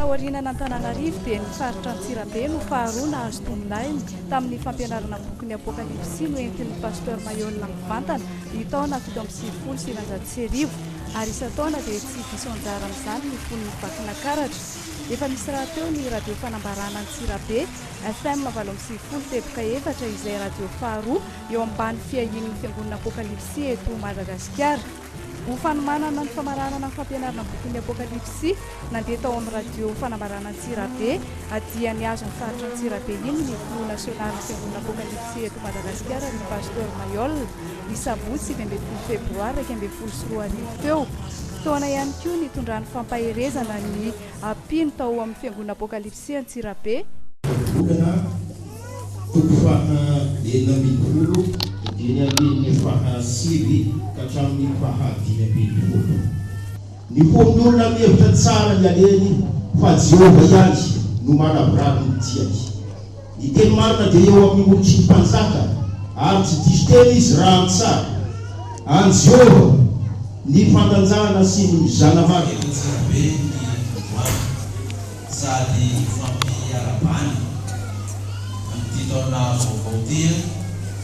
Taoriana an'Antananarivo dia ny faritra Antsirabe no faharoa nahazo tombon'aina tamin'ny fampianarana bokin'ny Apokalypsy noentin'ny Pasteur Maihol mivantana. ny taona fito amby sivifolo sy eninjato sy arivo, ary isan-taona dia tsy diso anjara amin'izany ny fon'ny Vakinakaratra. Efa misy rahateo ny Radio Fanambarana Antsirabe, FM valo amby sivifolo teboka efatra izay radio faharoa eo ambany fiahian'ny Fiangonana Apokalipsy eto Madagasikara. Ho fanomanana ny famaranana ny fampianarana bokin'ny Apokalipsy, Nandeha tao amin'ny radio Fanambarana Antsirabe, dia nihazo ny faritra Antsirabe iny ny filoha nasionalin'ny Fiangonana Apôkalipsy eto Madagasikara, ry Pasteur Mailhol, ny sabotsy sivy ambin'ny folo febroary iraika ambin'ny folo sy roa arivo teo. Fotoana ihany koa nitondran'ny fampaherezana ny mpino tao amin'ny Fiangonana Apôkalipsy sy Antsirabe. Vola toko faha enina ambin'ny folo eny andininy faha sivy ka hatramin'ny faha dimy ambin'ny folo. Ny fon'ny olona mihevitra tsara ny alehany fa Jehovah ihany no manavorary ny diany. Ny teny marina dia eo amin'ny molotry ny mpanjaka, ary tsy diso teny izy raha ny tsara. An'i Jehovah ny fandanjana sy ny zana-marina. Eny Antsirabe ny androany. sady hifampiarahabany amin'ity taona vaovao ity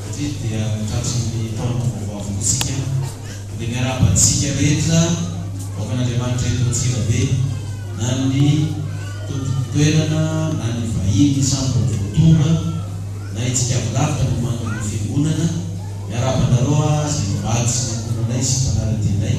satria dia tratran'ny taona vaovao avokoa isika dia miarahaba antsika rehetra vahoakan'Andriamanitra eto Antsirabe na ny tompon toerana na ny vahiny samy mbola vao tonga na itsika avy lavitra mamangy ny fiangonana miarahaba anareo aho izay nivady sy nankoronay sy mpanara-dianay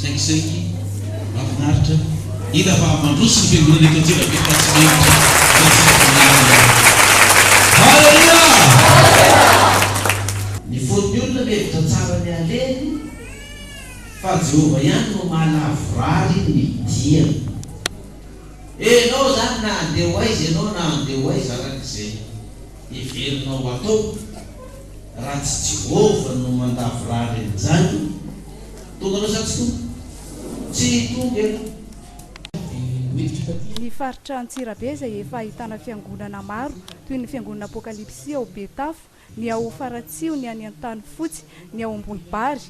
Saingy saingy mafinaritra hita fa mandroso ny fiangonana eto Antsirabe fa tsy mendrika Jesosy Tompon'ny alina. Haleloia! Ny fon'ny olona mihevitra tsara ny haleny fa Jehovah ihany no mahalavorary ny diany. Enao izany na handeha ho aiza ianao na handeha ho aiza arak'izay heverinao hatao. Raha tsy Jehovah no mandavorary an'izany, tonga anao sa tsy tonga? Tsy tonga ianao. Ny faritra Antsirabe izay efa ahitana fiangonana maro toy ny fiangonana Apokalipsy ao Betafo, ny ao Faratsiho, ny any Antanifotsy, ny ao Ambolibary.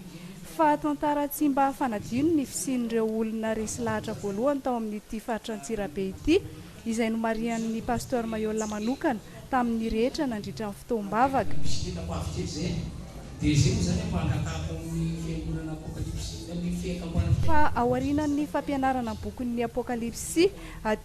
Fa tantara tsy mba fanadino ny fisian'ireo olona resy lahatra voalohany tao amin'ity faritra Antsirabe ity izay nomarihan'ny Pasteur Mayolla manokana tamin'ny rehetra nandritra ny fotoam-bavaka. Misy fihetsika mpahavitrika izay an! Dia izay moa izany an, mba angatahako amin'ny Fiangonana Apokalipsy na ny Fiaikam-panahy Fa Fiainana. ao aorianan'ny fampianarana ny bokin'ny Apokalipsy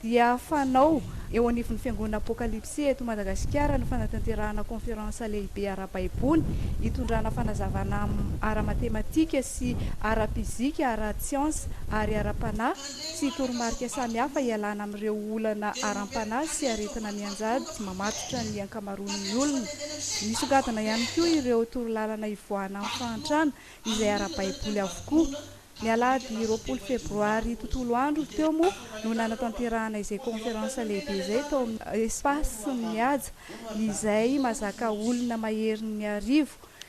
dia fanao eo anivon'ny Fiangonana Apokalipsy eto Madagasikara ny fanatanterahana Conférence lehibe ara-baiboly hitondrana fanazavana ara-matematika sy ara-pizika, ara-tsiansa ary ara-panahy. sy toromarika samihafa hialana amin'ireo olana aram-panahy sy aretina mianjady mamatotra ny ankamaroan'ny olona. Nisongadina ihany koa ireo torolalana hivoahana amin'ny fahantrana izay ara-baiboly avokoa. Ny alahady roapolo febroary tontolo andro teo moa no nanatanterahana izay kaonferansa lehibe izay tao amin'ny Espace Mihaja izay mazaka olona maherin'ny arivo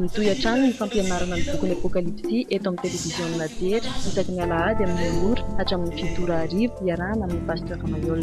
Mitohy hatrany ny fampianarana ny bokin'ny Apokalypsy eto amin'ny televiziona jery isaky ny alahady amin'ny roa ora hatramin'ny fito ora hariva iarahana amin'ny Pasteur Mayol.